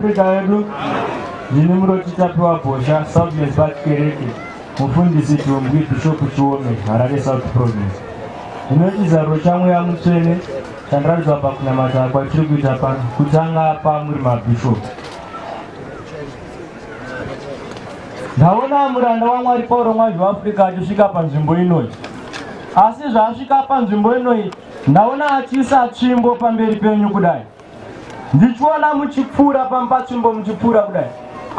Afrika yedu ndini murochitapiwa bhosha southlands bat kereke mufundisi tumbwi bhishopu chiome harare south province ino chizaruro chamweya mutsvene chandiratidza pakunamata kwatiri kuita pano kutanga pamuri mabhishopu ndaona muranda wamwari pauro mwazhi weafrica achisvika panzvimbo inoyi asi zvaasvika panzvimbo inoyi ndaona achiisa tsvimbo pamberi penyu kudai ndichiona muchipfuura pampatsvimbo muchipfuura kudai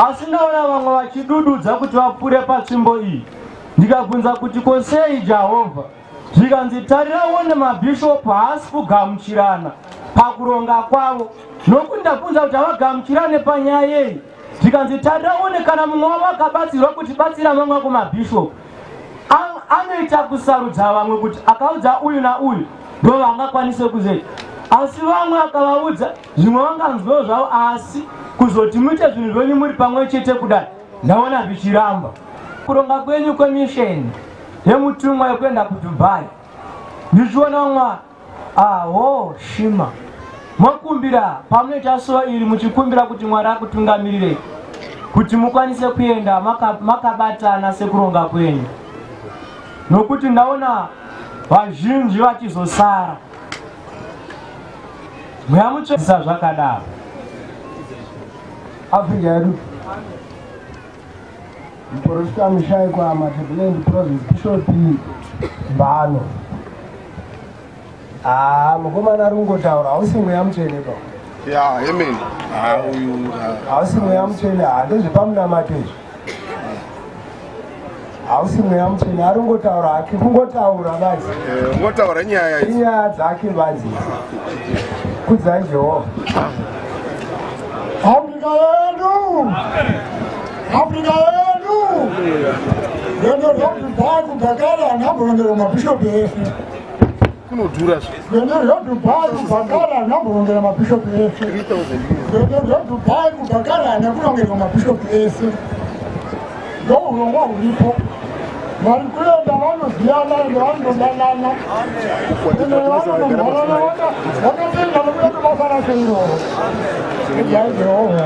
asi ndaona vamwe vachidududza kuti vapfuure patsvimbo iyi ndikabvunza kuti ko sei jehovha zvikanzi tarirawo nemabhishopu haasi kugamuchirana pakuronga kwavo nokuti ndabvunza kuti havagamuchirane panyaya yei zvikanzi tarira uone kana mumwe wavo akabatsirwa kuti batsira mamwe ako mabhishopu anoita kusarudza vamwe kuti akaudza uyu nauyu ndo vangakwanise kuzeti asi vamwe akavaudza zvimwe vanganzwewo zvavo asi kuzoti muite zvinhu zvenyu muri pamwe chete kudai ndaona zvichiramba kuronga kwenyu kwemisheni yemutumwa yekuenda kudubai ndichiona mwari Ahoo shima mokumbira pamunoita so iri muchikumbira kuti mwari akutungamirirei kuti mukwanise kuenda makabatana maka sekuronga kwenyu nokuti ndaona vazhinji vachizosara mweya mutsvedzisa zvakadaro afinga yedu Muporofita Mushaikwa Matabelendi Province Bishop Mbano. Ah, mukomana ari kungotaura hausi mweya mutsvene pa. Yeah, amen. Ah, uyu. Ah. Hausi mweya mutsvene, handezvepamunamato izvi. hausi mweya mutsvene ari kungotaura hake kungotaura vazi eh, ungotaura nyaya inyaya dzake vazi kudzai jehovha afrika yedu afrika yedu rendo rokudhaya kudhakara anamboendera mabhishopi ese kunodhura zvende zvodubai kubhakara hana kurongera mabhishopu ese zvende zvodubai kubhakara hana kurongerwa mabhishopu ese ndourongwa huripo vari kuenda vanoziyana ende vanododanana ende vanonomhorana vakatenda nokuya tobasa rake iroro iai jehovha